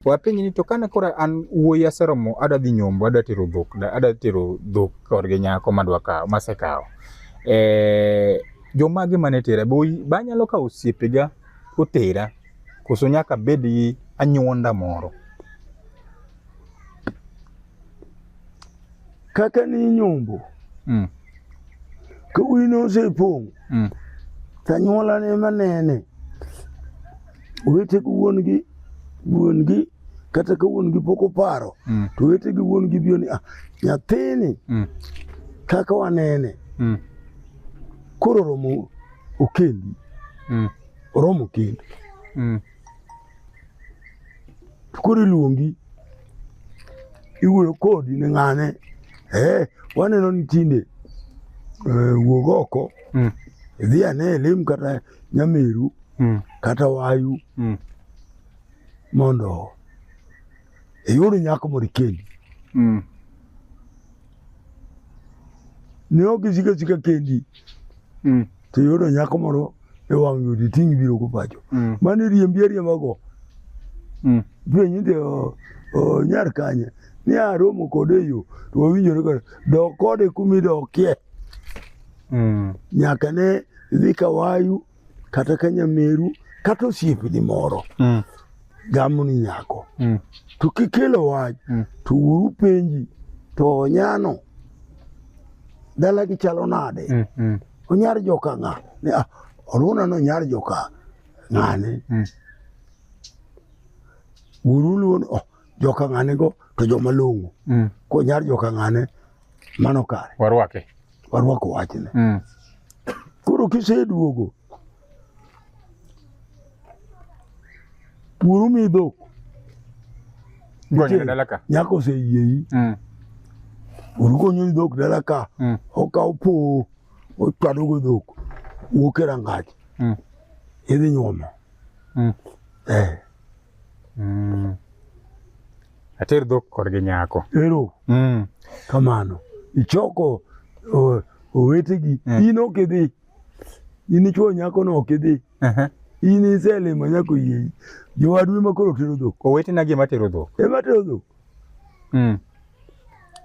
Wapenji ni to kane koro an wuoyi aseromo adwa dhi nyombo adwa tero dhok da- adwa tero dhok korgi nyako madwa kawo masekawo eh, jomage mane tera be oyi- be anyalo kawo osiepega otera koso nyaka bed gi anyuonda moro kaka ni nyombo mm. ka wi nosepong' mm. tanyuola ne manene owetego wuon gi wuon gi kata ka wuon gi pok oparo mm. to wete gi wuon gi biyo ni ah, nyathini mm. kaka wanene mm. koro oromo okendi mm. oromo kendi mm. koro iluongi iwuoyo kodi ni ng'ane eh, waneno ni tinde eh, wuog oko Mm. idhi ane e lim kata nyameru Mm. kata wayu Mm. mondo iyud nyako mondo ikendi Mm. Ne ok isiko asika kendi. Mm. To iyudo nyako moro e wang' yudi ting' biro go pacho. Mm. Mane riembi ariemba go. Mm. Penyi to oh, nyar kanye. Ni aromo kode yo. To wawinjore kode. Dok kode kumidokie. Mm. Nyaka ne dhi kawayu. kata ka nyameru kata osiepni moro mm. gamo ni nyako mm. to kikelo wach mm. to uru penji to onyano dala gi chalo nade mm. mm. onyar joka ng'a ne ah, oruna no nyar joka ng'ane mm. uru luon oh, joka ng'ane go to joma longo mm. ko nyar joka ng'ane mano kare warwake warwako wachne. Mm. Koro kiseduogo puro mi dhok nyako oseyieyi mm. urukonyo ni dhok dala ka mm. okawo powo ochwadogo dhok wuok e rangach mm. idhi nyuomo mm. eh. mm. Ater dhok kod gi nyako. Ero. Mm. Kamano. Ichoko uh, owetegi. Mm. In ok idhi. In ichwo nyako no ok idhi. Uh -huh. In iselimo nyako yie. Jowadu ema koro tero dhok. Owetena gi ema tero dhok. Ema tero dhok. Mm.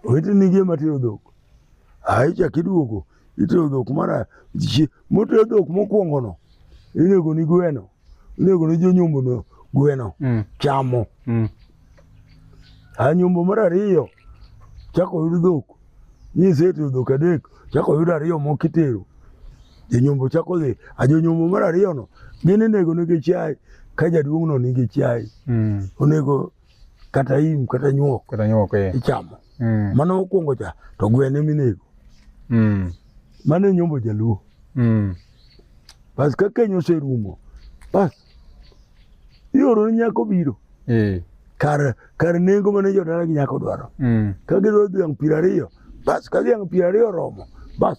Oweteni gi ema tero dhok. Aicha kiduogo. Itero dhok mara. Motero dhok mokwongo no. Inego ni gweno. Onego ne jonyombo no gweno mm. chamo. Mm. A nyombo mar ariyo chako oyud dhok. Ni isetero dhok adek chako oyud ariyo moko itero. Jonyombo chako dhi. A jonyombo mar ariyo no gin inego negi chiaye ka jaduong' no nigi chiaye. Mm. Onego kata im kata nyuok. Kata nyuok eh. Ichamo. Mm. Mane okwongo cha to gweno eminego. Mm. Mano e nyombo jaluo. Mm. Bas ka keny oserumo. Bas. Ioro ni nyako biro. Eh. Kar kar nengo mane jodala gi nyako dwaro. Mm. Ka gidwaro dhiang' piero ariyo. Bas ka dhiang' piero ariyo oromo. Bas.